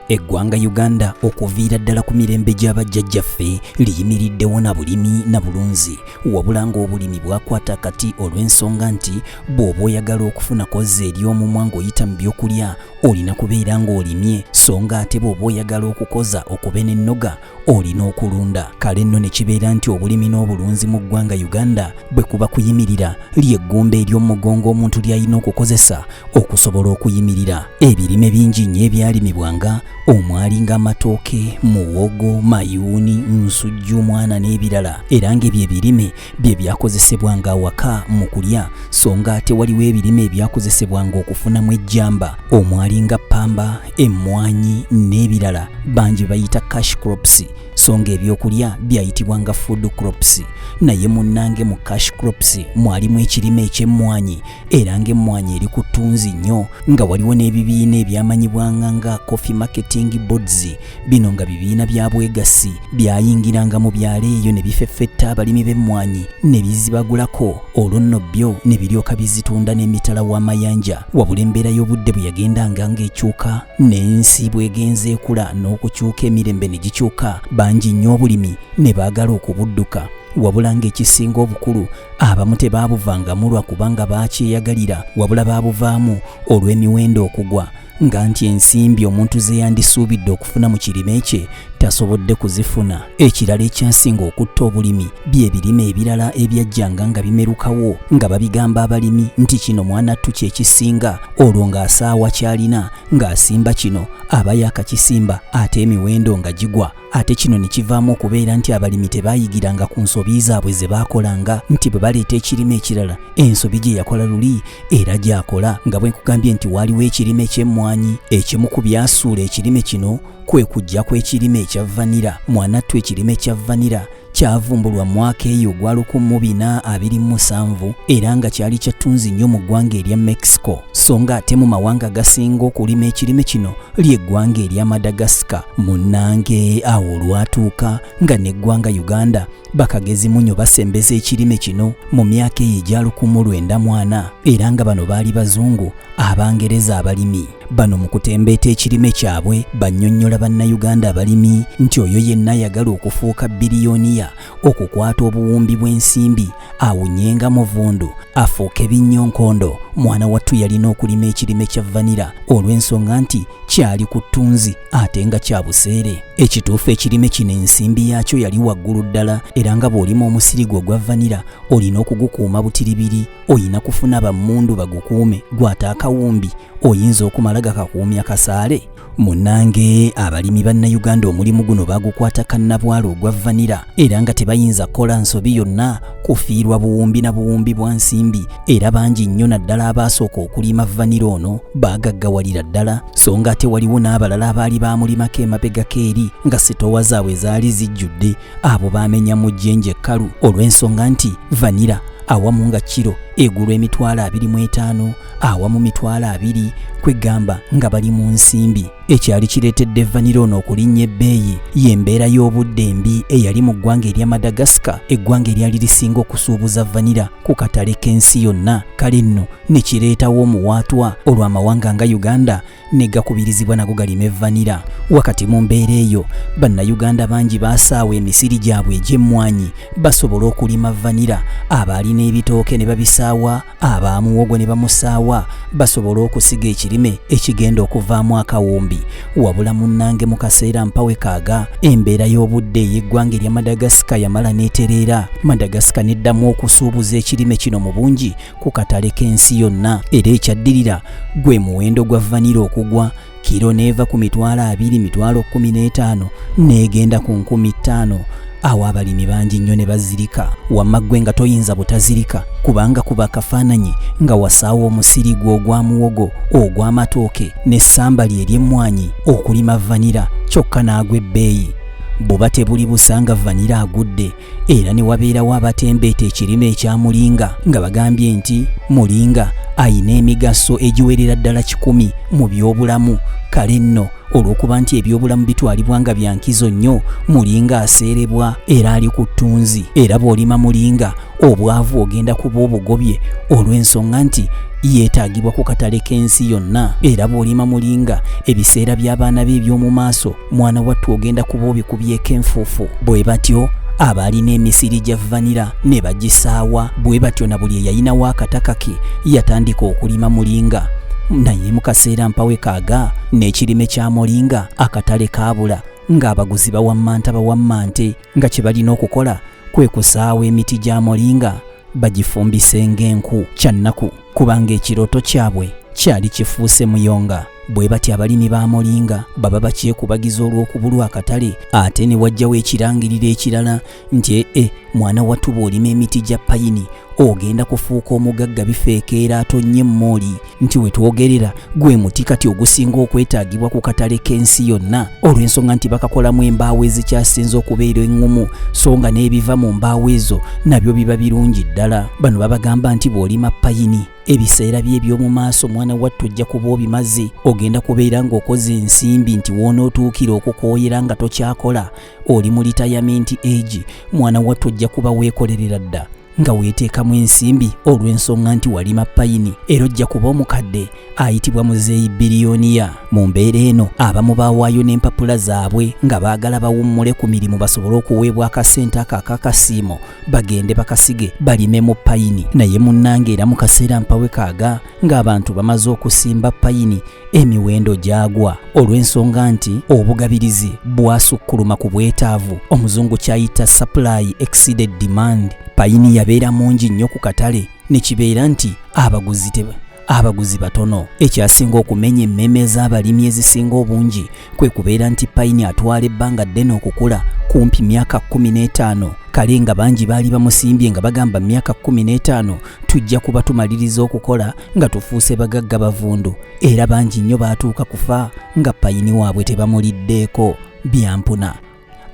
Eggwanga Uganda okuviira ddala ku mirembe gya bajjajjaffe liyimiriddewo na bulimi na bulunzi wabula ng'obulimi bwakwata kati olw'ensonga nti bw'oba oyagala okufuna kozza eri omumwa ng'oyita mu byokulya olina kubeera ng'olimye so nga ate bw'oba oyagala okukoza okube n'ennoga olina okulunda kale nno ne kibeera nti obulimi n'obulunzi mu ggwanga uganda bwe kuba kuyimirira ly'eggumba ery'omugongo omuntu ly'alina okukozesa okusobola okuyimirira ebirime bingi nnyo ebyalimibwanga omwali ng'amatooke muwogo mayuuni nsujju omwana n'ebirala era ng'ebyo ebirime bye byakozesebwa nga awaka mu kulya so nga ate waliwo ebirime ebyakozesebwa nga okufunamu ejjamba omwali nga ppamba emmwanyi n'ebirala bangi bayita cash crops so nga ebyokulya byayitibwa nga food crops naye munnange mu cash crops mwalimu ekirime eky'emmwanyi era ng'emmwanyi eri ku ttunzi nnyo nga waliwo n'ebibiina ebyamanyibwanga nga coffee marketing boards bino nga bibiina bya bwegassi byayingiranga mu byalo eyo ne bifeffetta abalimi b'emmwanyi ne bizibagulako olwo nno byo ne biryoka bizitunda n'emitala w'amayanja wabula embeera y'obudde bwe yagendanga ng'ekyuka n'ensi bw'egenza ekula n'okukyuka emirembe ne gikyuka bangi nnyo obulimi ne baagala okubudduka wabula ng'ekisinga obukulu abamu tebaabuvangamu lwa kubanga baakyeyagalira wabula baabuvaamu olw'emiwendo okugwa nga nti ensimbi omuntu ze yandisuubidde okufuna mu kirime kye tasobodde kuzifuna. Ekirala ekyasinga okutta obulimi bye birime ebirala ebyajjanga nga bimerukawo nga babigamba abalimi nti kino mwanattu kye kisinga, olwo ng'asaawa ky'alina ng'asimba kino aba yaakakisimba ate emiwendo nga gigwa. ate kino ne kivaamu okubeera nti abalimi tebaayigiranga ku nsobi zaabwe ze baakolanga nti bwe baleeta ekirime ekirala ensobi gye yakola luli era gyakola nga bwe nkugambye nti waaliwo ekirime ky'emmwanyi ekimu ku byasuula ekirime kino kwe kujja kw'ekirime ekya vanira mwanattu ekirime kya vanira kyavumbulwa mu mwaka eyo ogwa lukumu bina abiri mu musanvu era nga kyali kya ttunzi nnyo mu ggwanga erya Mexico so nga ate mu mawanga agasinga okulima ekirime kino ly'eggwanga erya Madagascar munnange awo olwatuuka nga n'eggwanga Uganda bakagezi munyo basembeza ekirime kino mu myaka eyo egya lukumu lwenda mwana era nga bano baali bazungu Abangereza abalimi bano mu kutembeeta ekirime kyabwe bannyonnyola Bannayuganda abalimi nti oyo yenna ayagala okufuuka biriyoniya okukwata obuwumbi bw'ensimbi awunyenga muvundu afuuke binnyonkondo mwana wattu yalina okulima ekirime kya vanira olw'ensonga nti kyali ku ttunzi ate nga kya buseere ekituufu ekirime kino ensimbi yaakyo yali waggulu ddala era nga bw'olima omusiri gwe ogwa vanira olina okugukuuma butiribiri oyina kufuna bammundu bagukuume gwata akawumbi oyinza okumala gakakuumya kasaale munange abalimi bannayuganda omulimu guno bagukwata kannabwala ogwa vanira era nga tebayinza kukola nsobi yonna kufiirwa buwumbi na buwumbi bwa nsimbi era bangi nnyo naddala abaasooka okulima vanira ono baagaggawalira ddala so nga ate waliwo n'abalala abaali baamulimako emabegako eri nga sitowa zaabwe zaali zijjudde abo baamenya mu jjenje kkalu olw'ensonga nti vanira awamu nga kiro egulwa emitwalo abiri mu etaano awamu mitwalo abiri kwegamba nga bali mu nsimbi ekyali kireetedde vanira ono okulinnya ebbeeyi y'embeera y'obudde embi eyali mu ggwanga erya madagascar eggwanga eryali lisinga okusuubuza vanira ku katale k'ensi yonna kale nno ne kireetawo omuwaatwa olw'amawanga nga uganda ne gakubirizibwa nago galime vanira. Wakati mu mbeera eyo, Bannayuganda bangi baasaawa emisiri gyabwe egy'emmwanyi basobole okulima vanira. Abaalina ebitooke ne babisaawa, aba muwogo ne bamusaawa basobole okusiga ekirime ekigenda okuvaamu akawumbi. Wabula munnange mu kaseera mpawe kaaga, embeera y'obudde ey'eggwanga erya Madagascar yamala n'etereera. Madagascar n'eddamu okusuubuza ekirime kino mu bungi. ku katale k'ensi yonna era ekyaddirira gwe muwendo gwa vanira okugwa kiro n'eva ku mitwalo abiri mitwalo kkumi n'etaano n'egenda ku nkumi ttaano awo abalimi bangi nnyo ne bazirika wamma ggwe nga toyinza butazirika kubanga kuba akafaananyi nga wasaawo omusiri gwo ogwa muwogo ogw'amatooke n'essamba lye ery'emmwanyi okulima vanira kyokka n'agwa ebbeeyi buba tebuli busanga vanira agudde era ne wabeerawo abatembeeta ekirime ekya mulinga nga bagambye nti mulinga ayina emigaso egiwerera ddala kikumi mu byobulamu kale nno olw'okuba nti ebyobulamu bitwalibwa nga bya nkizo nnyo mulinga aseerebwa era ali ku ttunzi era bw'olima mulinga obwavu ogenda kuba obugobye olw'ensonga nti yeetaagibwa ku katale k'ensi yonna era bw'olima mulinga ebiseera by'abaana be eby'omu maaso mwana wattu ogenda kuba obikubyeko enfuufu bwe batyo abaalina emisiri gya vanira ne bagisaawa bwe batyo na buli eyalinawo akataka ke yatandika okulima mulinga naye mu kaseera mpawe kaaga n'ekirime kya mulinga akatale kaabula ng'abaguzi bawammanta bawammante nga kye balina okukola kwe kusaawa emiti gya mulinga bagifumbise ng'enku kyannaku kubanga ekirooto kyabwe kyali kifuuse muyonga bwe batya abalimi ba molinga baba bakyekubagiza olw'okubulwa akatale ate ne wajjawo ekirangiriro ekirala nti ee eh, eh, mwana wattu bw'olima emiti gya payini ogenda kufuuka omugagga bifeekeera atonnye emmooli nti we twogerera gwe muti kati ogusinga okwetaagibwa ku katale k'ensi yonna olw'ensonga nti bakakolamu embaawo ezikyasinze okubeera eŋŋumu so nga n'ebiva mu mbaawo ezo nabyo biba birungi ddala bano babagamba nti bw'olima payini ebiseera bye eby'omu maaso mwana wattu ojja kuba obimaze ogenda kubeera ng'okoze ensimbi nti woonootuukira okukooyera nga tokyakola oli mu litayamenti egi mwana wattu ojja kuba weekolerera dda nga weeteekamu ensimbi olw'ensonga nti walima payini era ojja kuba omukadde ayitibwa muzeeyi biriyoniya mu mbeera eno abamu baawaayo n'empapula zaabwe nga baagala bawummule ku mirimu basobole okuweebwa akasente ako akakasiimo bagende bakasige balime mu payini naye munnange era mu kaseera mpawekaaga ng'abantu bamaze okusimba payini emiwendo gyagwa olw'ensonga nti obugabirizi bwasukkuluma ku bwetaavu omuzungu kyayita supply exceeded demand payini yabeera mungi nnyo ku katale ne kibeera nti abaguzi teba abaguzi batono ekyasinga okumenya emmeme z'abalimi ezisinga obungi kwe kubeera nti payini atwala ebbanga ddene okukula kumpi myaka 15 kale nga bangi baali bamusimbye nga bagamba myaka 15 tujja kuba tumaliriza okukola nga tufuuse bagagga bavundu era bangi nnyo baatuuka kufa nga payini waabwe tebamuliddeeko byampuna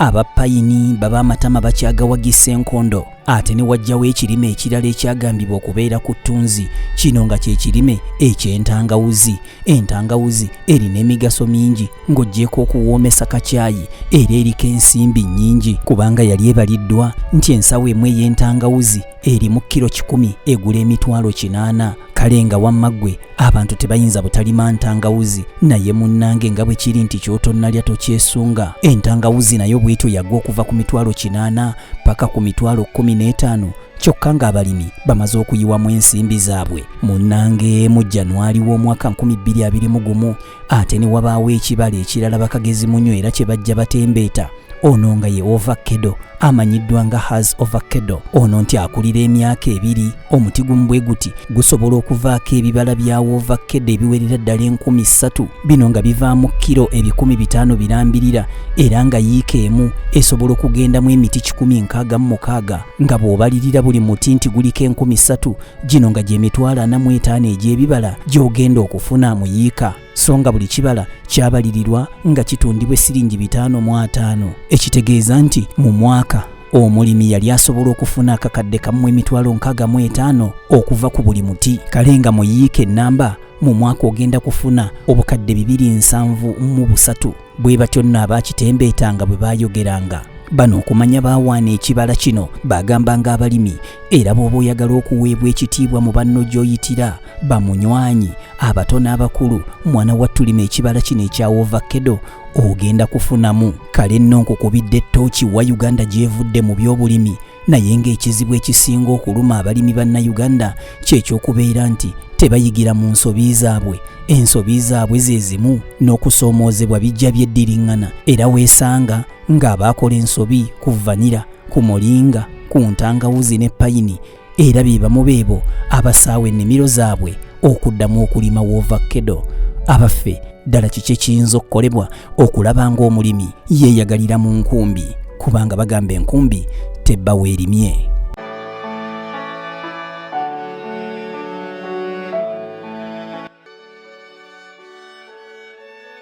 abapayini baba amatama bakyagawagisa enkondo ate ne wajjawo ekirime ekirala ekyagambibwa okubeera ku ttunzi kino nga kye kirime eky'entangawuzi entangawuzi erina emigaso mingi ng'ogyeko okuwoomesa kakyayi era eriko ensimbi nnyingi kubanga yali ebaliddwa nti ensawo emu ey'entangawuzi erimu kiro kikumi egula emitwalo kinaana kale nga wamma ggwe abantu tebayinza butalima ntangawuzi naye munnange nga bwe kiri nti ky'otonnalya tokyesunga entangawuzi nayo bwetyo yagwa okuva ku mitwalo kinaana paka ku mitwalo kkumi n'etaano kyokka ng'abalimi bamaze okuyiwamu ensimbi zaabwe munnange mu januwali w'omwaka 2021 ate ne wabaawo ekibala ekirala bakagezi munywa era kye bajja batembeeta ono nga ye ovakkedo amanyiddwa nga has ovakkedo ono nti akulira emyaka ebiri omuti gumu bwe guti gusobola okuvaako ebibala bya ovakkedo ebiwerera ddala enkumi ssatu bino nga bivaamu kiro ebikumi bitaano birambirira era nga yiika emu esobola okugendamu emiti kikumi nkaaga mu mukaaga nga bw'obalirira buli muti nti guliko enkumi ssatu gino nga gyemitwalo ana mu etaano egy'ebibala gy'ogenda okufuna mu yiika so nga buli kibala kyabalirirwa nga kitundibwa essiringi bitaano mu ataano ekitegeeza nti mu mwaka omulimi yali asobola okufuna akakadde kamu emitwalo nkaaga mu etaano okuva ku buli muti kale nga mu yiika ennamba mu mwaka ogenda kufuna obukadde bibiri nsanvu mu busatu bwe batyo nno abaakitembeetanga bwe baayogeranga bano okumanya baawaana ekibala kino baagambanga abalimi era bw'oba oyagala okuweebwa ekitiibwa mu banno gy'oyitira bamunywanyi abato n'abakulu mwana wa tulima ekibala kino ekya ovakedo ogenda kufunamu kale nno nkukubidde ttooki wa uganda gy'evudde mu by'obulimi naye ng'ekizibu ekisinga okuluma abalimi bannayuganda kyekyokubeera nti tebayigira mu nsobi zaabwe ensobi zaabwe ze zimu n'okusoomoozebwa bijja byeddiriŋŋana era weesanga ng'abaakola ensobi ku vanira ku mulinga ku ntangawuzi ne payini era be bamu beebo abasaawa ennimiro zaabwe okuddamu okulima woovakkedo abaffe ddala kiki ekiyinza okukolebwa okulaba ng'omulimi yeeyagalira mu nkumbi kubanga bagamba enkumbi tebba weerimye